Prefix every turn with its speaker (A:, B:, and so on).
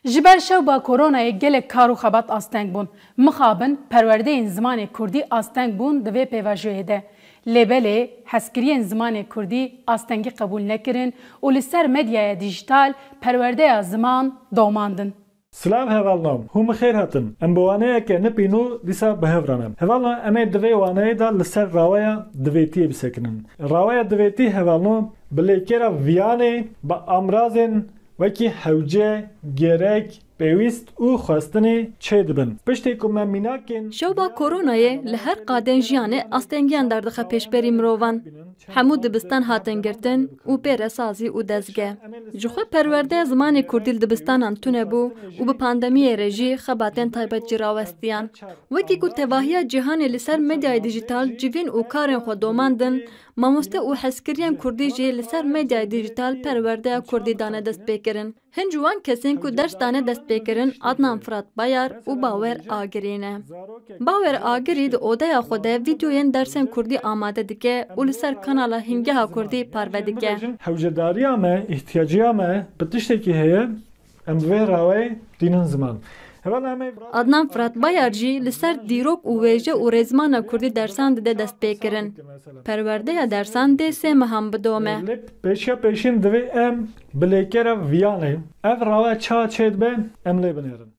A: Ji ber şewba koronayê gelek kar û xebat asteng bûn. Mixabin perwerdeyên zimanê kurdî asteng bûn di vê pêvajoyê de. Lê belê hezkiriyên zimanê kurdî astengî qebûl nekirin û li ser medyaya dîjîtal perwerdeya ziman domandin. Silav hevalno, hûn bi xêr hatin. Em bi waneyeke nip îno dîsa bi hev re ne. Hevalno em ê di vê waneyê de li ser raweya divêtiyê bisekinin. Raweya divêtî hevalno bi lêkêra viyanê, bi amrazên Wekî hewce, gerek, pêwîst û xwestinê çê dibin. Piştê ku me mînakên. Şewba koronayê li her qadên jiyanê astengiyan derdixe pêşberî mirovan. Hemû dibistan hatin girtin û pê re sazî û dezge. Ji xwe perwerde zimanê kurdî li dibistanan tune bû û bi pandemiyê re jî xebatên taybet jî rawestiyan. Wekî ku tevahiya cîhanê li ser medyayê dîjîtal civîn û karên xwe domandin, Mamoste û hezkiriyên kurdî jî li ser medyayê dîjîtal perwerdeya kurdî dane destpêkirin. Hin ji wan kesên ku ders dane destpêkirin Adnan Firat Bayar û Bawer Agirî ne. Bawer Agirî di odeya xwe de vîdyoyên dersên kurdî amade dike û li ser kanala Hîngeha Kurdî parve dike. Hewcedariya me, îhtiyacîya me bi tiştekî heye Em vê rawayê tînin ziman. Adnan Firat Bayar jî li ser dîrok û wêje û rêzmana kurdî dersan dide destpêkirin. Perwerdeya dersan dê sê mehan bidome. Lê pêşiya pêşîn divê em bi lêkera viyanê ev rawe çawa çêdibe em lê binêrin.